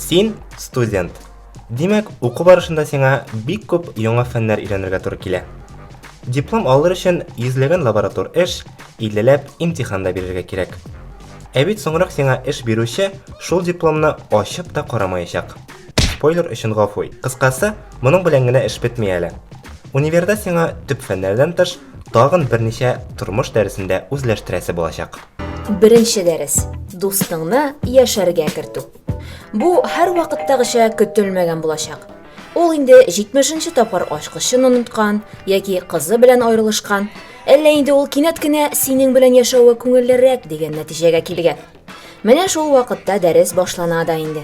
Син студент. Димәк, уку барышында сиңа бик күп яңа фәннәр өйрәнергә туры килә. Диплом алыр өчен йөзләгән лаборатор эш, иллеләп имтихан да бирергә кирәк. Ә бит соңрак сиңа эш бирүче шул дипломны ачып та карамаячак. Спойлер өчен гафу. Кыскасы, Моның белән генә эш бетми әле. Универда сиңа төп фәннәрдән тыш, тагын берничә тормыш дәресен дә үзләштерәсе булачак. Беренче дәрес, дустыңны яшәргә кертү. Бу һәрвакыттагыча көтелмәгән булачак. Ул инде 70 нче тапкыр ачкычын оныткан яки кызы белән аерылышкан, әллә инде ул кинәт кенә синең белән яшәве күңеллерәк дигән нәтиҗәгә килгән. Менә шул вакытта дәрес башлана да инде.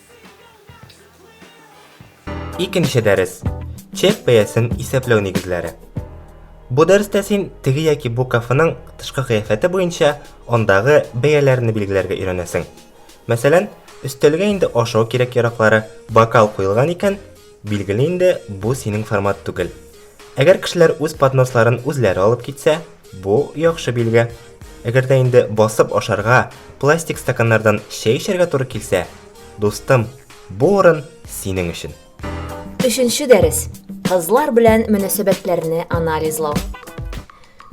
Икенче дәрес. Чек бәясен исәпләү нигезләре. Бу дәрестә син теге яки бу кафеның тышкы кыяфәте буенча андагы бәяләрне билгеләргә өйрәнәсең. Мәсәлән, өстәлгә инде ашау кирәк яраклары, бокал куелган икән, Билгеле инде, бу синең формат түгел. Әгәр кешеләр үз подносларын үзләре алып китсә, бу яхшы билге. Әгәр дә инде басып ашарга, пластик стаканнардан чәй эчәргә туры килсә, дустым, бу урын синең өчен. Өченче дәрес, кызлар белән мөнәсәбәтләрне анализлау.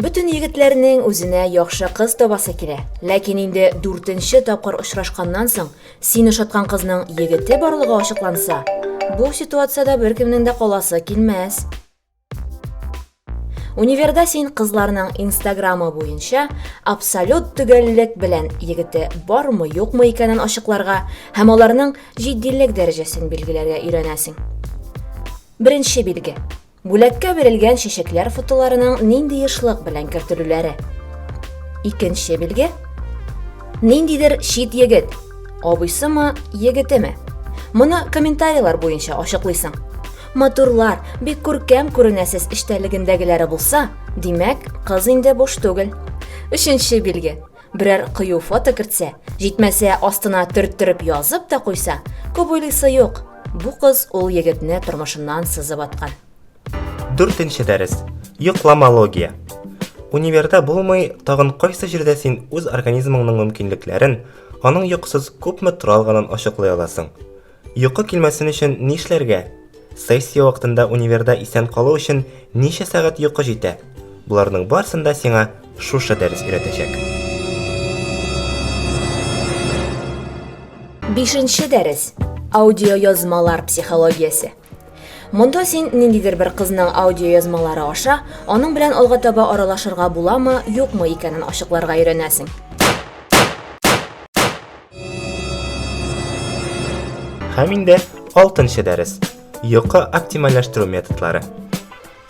Бөтен егетләрнең үзенә яхшы кыз табасы килә. Ләкин инде дүртенче тапкыр очрашканнан соң, син ошаткан кызның егете барлыгы ачыкланса, бу ситуациядә беркемнең дә каласы килмәс. Универда син кызларның инстаграмы буенча абсолют төгәллек белән егете бармы, юкмы икәнен ачыкларга һәм аларның җитдилек дәрәҗәсен билгеләргә өйрәнәсең. Беренче билге. Бүләккә бирелгән чәчәкләр фотоларының нинди ешлык белән кертелүләре. Икенче билге. Ниндидер чит егет, абыйсымы, егетеме? Моны комментарийлар буенча ачыклыйсың. Матурлар, бик күркәм күренәсез эчтәлегендәгеләре булса, димәк, кыз инде буш түгел. Өченче билге. Берәр кыю фото кертсә, җитмәсә, астына төрттереп язып та куйса, күп уйлыйсы юк, бу кыз ул егетне тормышыннан сызып аткан. Дүртенче дәрес. Йокламология. Универда булмый, тагын кайсы җирдә син үз организмыңның мөмкинлекләрен, аның йокысыз күпме тора алганын ачыклый аласың? Йокы килмәсен өчен нишләргә? Сессия вакытында универда исән калу өчен ничә сәгать йокы җитә? Боларның барсын да сиңа шушы дәрес өйрәтәчәк. Бишенче дәрес. Аудиоязмалар психологиясе. Монда син ниндидер бер кызның аудиоязмалары аша аның белән алга таба аралашырга буламы, юкмы икәнен ачыкларга өйрәнәсең. Һәм инде 6нчы дәрес. Йокы оптимальләштерү методлары.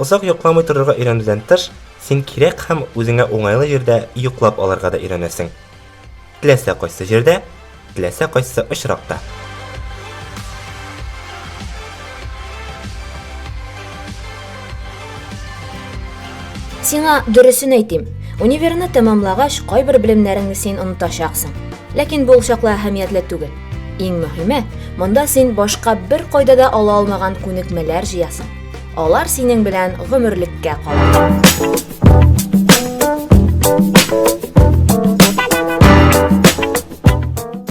Озак йокламый торырга өйрәнүдән тыш, син кирәк һәм үзеңә уңайлы җирдә йоклап алырга да өйрәнәсең. Теләсә кайсы җирдә, теләсә кайсы очракта. Сиңа дөресен әйтим. Универны тәмамлагач, кайбер белемнәреңне син онытачаксың. Ләкин бу чакла әһәмиятле түгел. Иң мөһиме, монда син башка бер кайда да ала алмаган күнекмәләр җыясың. Алар синең белән гомерлеккә кала.